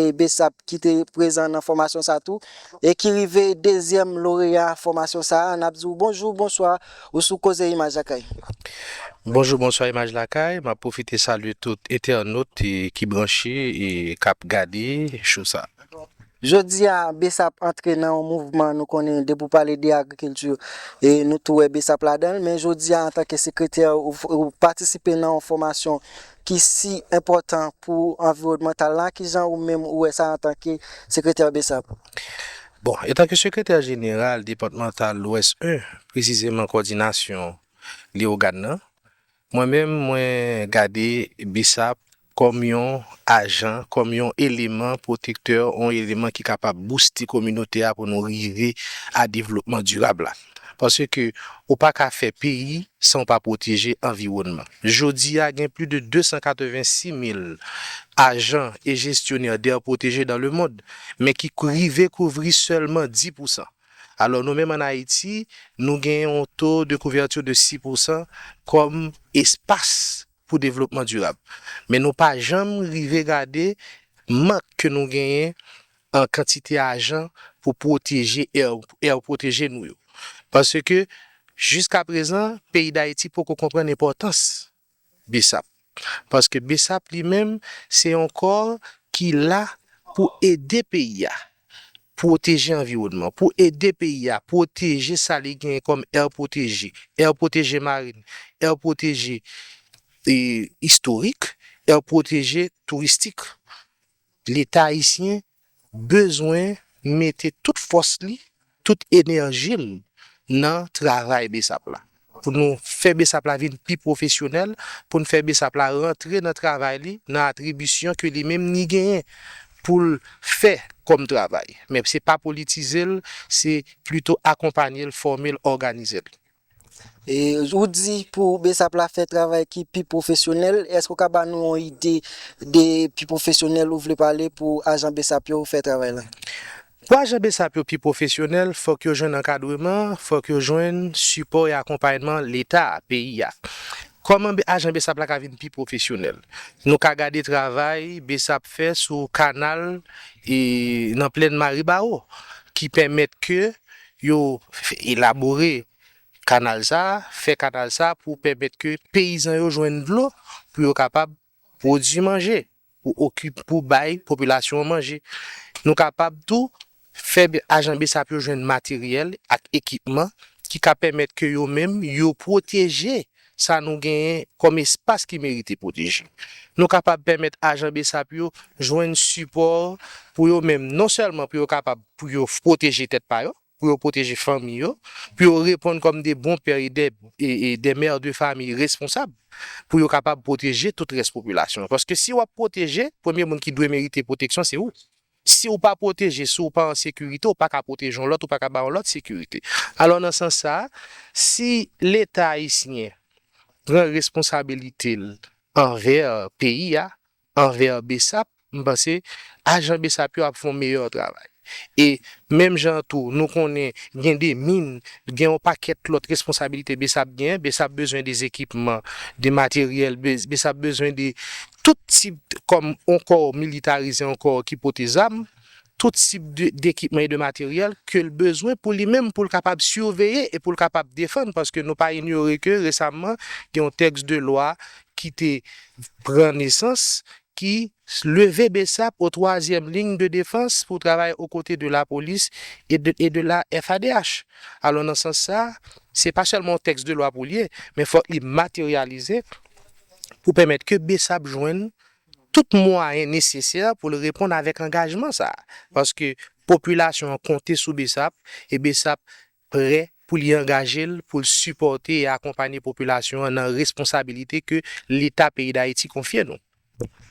e Bsap ki te prezan nan fòmasyon sa tou e ki rive dezyèm loreya fòmasyon sa a, n ap di w bonjou, bonswa, ou sou Koze Imaj Lakay. Bonjou, bonswa Imaj Lakay, m ap pwofite salye tout entènot ki branche e k ap gade show sa a. Jodi a Bsap antre nan yon mouvman nou konnen depi w pale de agrikilti e nou tou wè Bsap ladan l men jodi a antanke sekretè ou patisipe nan yon fòmasyon ki si enpòtan pou anviwònmantal la, ki jan ou menm ou wè sa antanke sekretè BSAP? Bon, etanke sekretè jeneral depatmantal Lwès 1, presizeman kòdinasyon Leyogàn nan, mwen menm mwen gade BSAP kòm yon ajan, kòm yon eleman pwotektè, yon eleman ki kapab bouste kominote a pou nou rive a devlopman dirab la. Paske ou pa ka fè peyi san ou pa pwoteje anviwònman. Jodi a, gen pli de 286 mil ajan e jestyonè d'aire protégée dans le monde, men ki rive kouvri sèlman 10 pousan. Alò nou menm an Ayiti, nou gen yon to de kouverture de 6 pousan kòm espas pou devlopman dirab. Men nou pa janm rive gade mank ke nou genyen an kantite ajan pou pwoteje èr pwoteje nou yo. Pase ke jiska prezan peyi Dayiti poko konprann enpòtans bsap. Paske bsap li menm se yon kò ki la pou ede peyi a pwoteje anviwònman, pou ede peyi a pwoteje sa li genyen kòm èr pwoteje, èr pwoteje marin, èr pwoteje istorik, èr pwoteje touristik. Leta ayisyen bezwen mete tout fòs li, tout enèji l nan travay Bsap la. Pou nou fè Bsap la vin pi pwofesyonèl, pou n fè Bsap la rantre nan travay li, nan atribisyon ke li menm li genyen pou l fè kòm travay. Men se pa politize l, se plito akonpanye l, fòme l, òganize l. E ou di pou besap la fè travay ki pi pwofesyonèl, èske ou ka ba nou yon ide de pi pwofesyonèl ou vle pale pou ajan besap yo fè travay la? Pou ajan besap yo pi pwofesyonèl, fòk yo jwenn ankadreman, fòk yo jwenn sipò e akonpayman leta, peyi a. Kòman ajan besap la ka vin pi pwofesyonèl? Nou ka gade travay besap fè sou kanal nan plèn Maribawo ki pèmèt ke Yo elabore kanal sa a, fè kanal sa a pou pèmèt ke peyizan yo jwenn dlo pou yo kapab pwodui manje, pou okip, pou bay popilasyon an manje. Nou kapab tou fè ajan Bsap yo jwenn materyèl ak ekipman ki ka pèmèt ke yo menm yo pwoteje sa nou genyen kòm espas ki merite pwoteje. Nou kapab pèmèt ajan bsap yo jwenn sipò pou yo menm, non sèlman pou yo kapab pou yo pwoteje tèt pa yo, pou yo pwoteje fanmi yo, pou yo reponn kòm de bon pè e de mè de famiy responsab, pou yo kapab pwoteje tout rès popilasyon an. Paske si w ap pwoteje, premye moun ki dwe merite pwoteksyon se ou. Si w pa pwoteje, si w pa an sekirite, w pa ka pwoteje yon lòt, ou pa ka ba yon lòt sekirite. Alò nan sans sa a, si Leta ayisyen pran responsabilite l anvè peyi a, anvè Bsap, m panse ajan Bsap yo ap fè yon meyè travay. E menm jan an tou, nou konnen gen de min, gen yon pakèt lòt responsabilite Bsap genyen. Bsap bezwen de zekipman, de materyèl, Bsap bezwen de tout tip kòm yon kò militarize, yon kò ki pote zam, tout tip dekipman e de materyèl ke l bezwen pou li menm pou l kapab siveye e pou l kapab defann paske nou pa inyore ke resamman gen yon tèks de lwa ki te pran nesans ki leve bsap o twazyèm liy de defans pou travay o kote de lapolis e de la FADH. Alò nan sans sa se pa sèlman yon tèks de lwa pou l ye men fòk li materyalize. pou pèmèt ke bsap jwenn tout mwayen nesesè pou l reponn avèk angajman sa a, paske popilasyon an konte sou bsap e bsap prè pou li angaje l pou l sipòte e akonpanye popilasyon an nan responsabilite ke Leta peyi Dayiti konfye nou.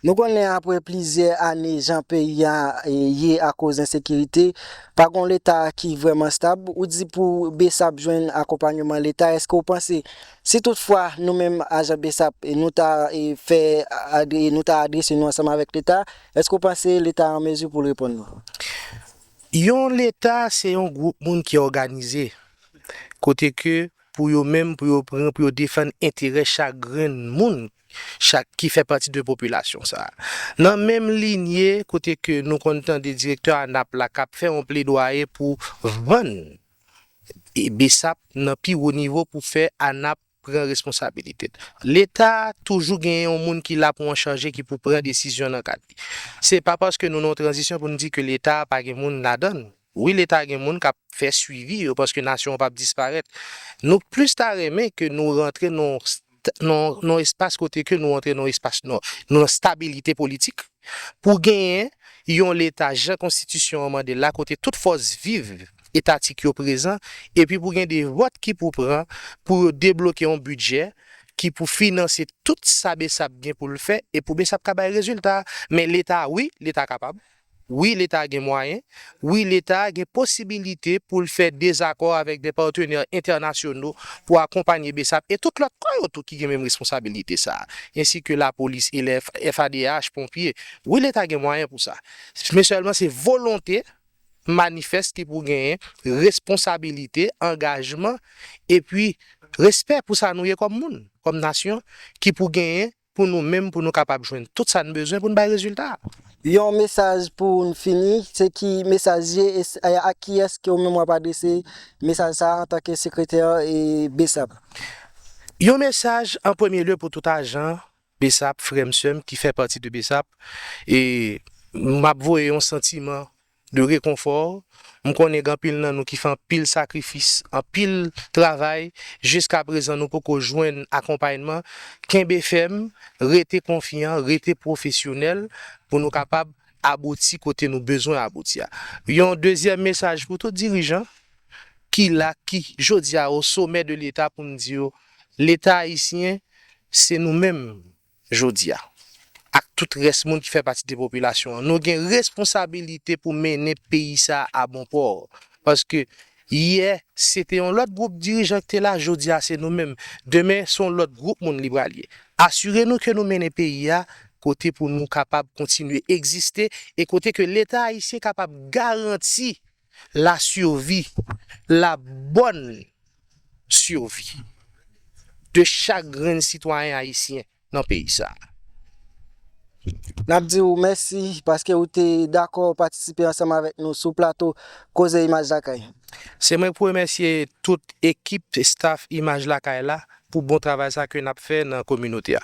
Nou konnen apre plizyè ane jan peyi a ye akoz ensekirite, pa gon Leta ki vrèman stab, ou di pou bsap jwenn akonpanyeman Leta, èske ou panse Si tout fwa nou menm ajan bsap nou ta fè nou ta adrese nou ansanm avèk leta, èske ou panse leta an mezi pou l reponn nou? Yon leta se yon gwoup moun ki òganize, kote ke pou yo menm pou yo pran pou yo defann enterè chak grenn moun chak ki fè pati de popilasyon sa a. Nan menm linye kote ke nou konn tande direktè anap la k ap fè yon pledwaye pou vann Bsap nan pi wo nivo pou fè ANAP pran responsabilite l. Leta toujou genyen yon moun ki la pou an chanje ki pou pran desizyon nan kad li. Se pa paske nou nan yon tranzisyon pou n di ke leta a pa gen moun ladan l. Wi leta gen moun k ap fè swivi yo paske nasyon an p ap disparèt. Nou plis ta renmen ke nou rantre nan yon. nan yon espas kote ke nou antre nan yon espas nan yon stabilite politik pou genyen yon leta jan konstitisyon an mande l la kote tout fòs viv etatik yo prezan epi pou gen de vòt ki pou pran pou yo debloke yon bidjè ki pou finanse tout sa bsap gen pou l fè e pou bsap ka bay rezilta men leta wi leta kapab. Wi leta gen mwayen, wi leta gen posibilite pou l fè dezakò avèk dè patenè entènasyono pou akonpanye bsap e tout lòt kò yo tou ki gen menm responsabilite sa a, ensi ke lapolis e FADH, ponpye. Wi leta gen mwayen pou sa. Men sèlman se volonte manifès ki pou genyen, responsabilite, angajman epi respè pou sa nou ye kòm moun, kòm nasyon ki pou genyen pou nou menm pou nou kapab jwenn tout sa n bezwen pou n bay rezilta a. Yon mesaj pou n fini, se ki mesaj ye e ak kiyès ke ou menm w ap adrese mesaj sa a antanke sekretè bsap? Yon mesaj an premye lye pou tout ajan bsap, frè m, sè m ki fè pati de bsap e m ap voye yon santiman de rekonfò, m konnen gen anpil nan nou ki fè anpil sakrifis, anpil travay, jiska prezan nou poko jwenn akonpayman, kenbe fèm, rete konfyan, rete pwofesyonèl pou nou kapab abouti kote nou bezwen abouti a. Yon dezyèm mesaj pou tout dirijan ki la, ki jodi a o somè de leta pou m di yo, leta ayisyen se nou menm Jodi a, ak tout rès moun ki fè pati de popilasyon an, nou gen responsabilite pou mennen peyi sa a abonpò. Paske, yè, se te yon lòt gwoup dirijan ki te la, jodi a se nou menm. Demen, se yon lòt gwoup moun li pral ye. Asire nou ke nou mennen peyi a kote pou nou kapab kontinye egziste e kote ke Leta ayisyen kapab garanti. la survie, la bonne survie de chak grenn sitwayen ayisyen nan peyi sa a. N ap di ou mèsi paske ou te dakò patisipe ansanm avèk nou sou plato Koze Imaj Lakay. Se mwen pou remèsye tout ekip, staff Imaj Lakay la pou bon travay sa ke n ap fè nan kominote a.